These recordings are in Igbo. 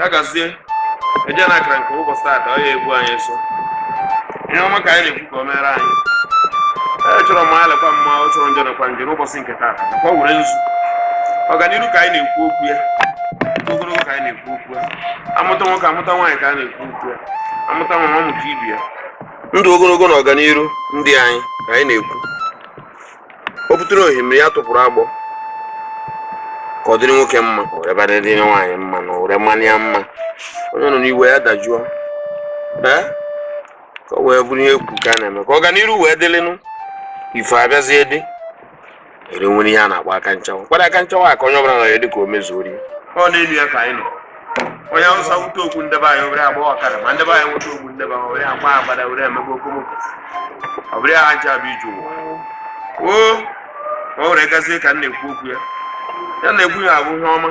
ya gazie eje na akara nke ụbọchị taata ọ ya egbu anyị nso ihe ọma ka anyị na-ekwu ka o mere anyị ee chọrọ mma lekwa mma ọ chọrọ njọ lekwa njọ n'ụbọchị nke taata ka ọ were nzu ọganiru ka anyị na-ekwu okwu ya ogologo ka anyị na-ekwu okwu ya amụta nwoke amụta nwaanyị ka a na-ekwu amụta nwa amụta ibe ya ndụ ogologo na ọganiru ndị anyị ka anyị na-ekwu o butere ohimiri ya tụpụrụ agbọ ka ọ dịrị nwoke mma were gbada dịrị nwaanyị mma na were mmanụ ya mma onye nọ n'iwe ya dajụọ ee ka ọ wee bụrụ ihe ekwu ka a na-eme ka ọganiru wee dịlịnụ ife abịazie dị ire nwere ihe a na-akpọ aka nchawa kwado aka nchawa a ka onye ọbụla nọ ya dịka o mezuori ya ọ na-elu ya ka anyị nọ onye awụsa wute okwu nde be anyị obere agba ọkara ma nde be anyị nweta okwu nde be anyị obere agba agbada were emebe okomoko ọ bụrụ ha ncha bụ ije ụwa o o were gazie ka m na-ekwu okwu ya ya na-ekwu ya abụ ihe ọma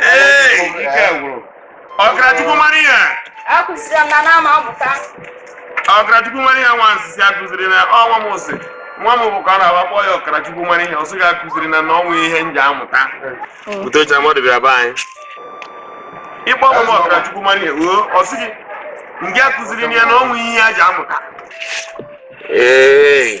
Ee, ike gwụrụ. ọkara Chukwu mara ihe akụziri m na na-ama amụta ọkara Chukwu mara ihe nwa nsisi akụziri na ọnwa m sị nwa m bụ ka ọ na-agbakpọ ya ọkara Chukwu mara ihe ọ sị gị akụziri na na o nwe ihe m ja-amụta utocha mmadụ bịara be anyị ịkpọ nwa m ọkara Chukwu mara ihe oo ọ sị gị ndị akụziri na ya na o nwe ihe ya ji amụta ee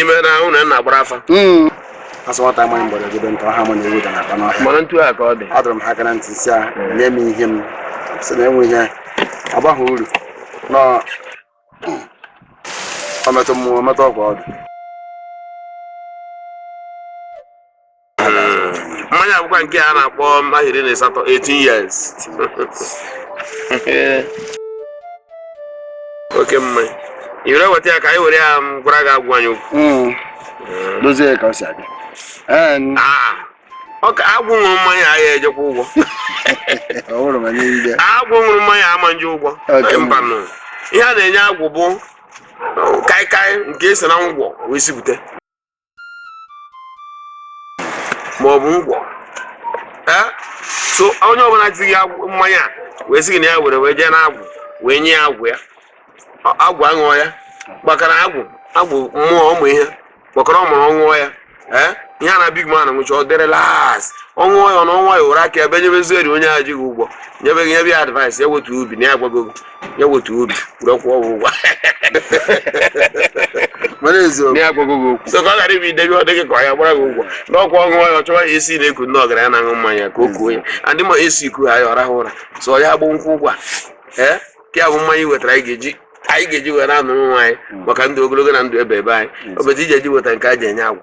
ime na ụlọ nna gbara afa hmm. a sị nwata amaghị mgbọrọ gị ntọ ha ma na ewu na-akpa n'ọhịa mana etu a ka ọ dị adọrọ m ha aka na ntị sị ha hmm. nye m ihe m sị na enwe ihe agbaghị uru na ọmetụ mmụọ metụ ọgwụ ọdụ mmanya a bụkwa nke a na-akpọ ahọ iri na asatọ 18 years oke mmanya i were weta ya ka anyị were ya gwara agwụ anyị okwu Mm. dozie ka ọ si aga Ee, Ah, ọ ka agwụ ṅụrụ mmanya a ya ejekwa ụgwọ ọ hụrụ ma nye ndị agwụ ṅụrụ mmanya ama eje ụgwọ Oke. mbanụ ihe a na-enye agwụ bụ kaịkaị nke e si na ngwọ wee sipụta ma ọ bụ ngwọ ee so onye ọbụla tighị agwụ- mmanya a wee sị gị na ya were wee jee n'agwụ wee nye ya agwụ ya Ọ- agwụ aṅụọ ya gbakara agwụ agwụ mmụọ ụmụ ihe gbakọrọ ọ mụrụ ọ ṅụọ ya ee ihe a na big man ṅụcha ọ dị relax ọ ṅụọ ya ọ na ọnwa ya ụra aka ebe nyebezieri onye a ji gị ụgwọ nyebe gị nyebe ya advice ya wetu obi na ya agwago gị ya wetu obi were kwụọ gị ụgwọ mara eziokwu ya agwago gị okwu so ka ọ ghara ibi idebe ọ dịghị ka ọ ya-agbara gị ụgwọ na ọkwa ọ ṅụọ ya ọ chọwa ya esi na-eku ndị ọgaranya na-aṅụ mmanya ka o kuo ya adị ma esi ku ha ya ọ rahụ ụra so ya agba nkwụ ụgwọ a ee ka ya bụ mmanya i wetara anyị ga-eji anyị ga-eji were anụrụ nwa anyị maka ndụ ogologo na ndụ ebeebe anyị obezi iji eji weta nke a ji enye agwụ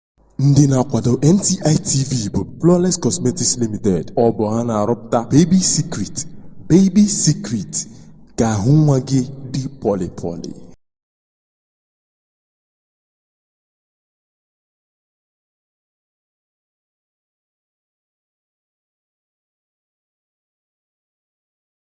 Ndị na-akwado NTI TV bụ Flawless Cosmetics Limited. Ọ bụ ha na-arụpụta Baby Secret, Baby Secret ka ahụ nwa gị dị pọlị pọlị.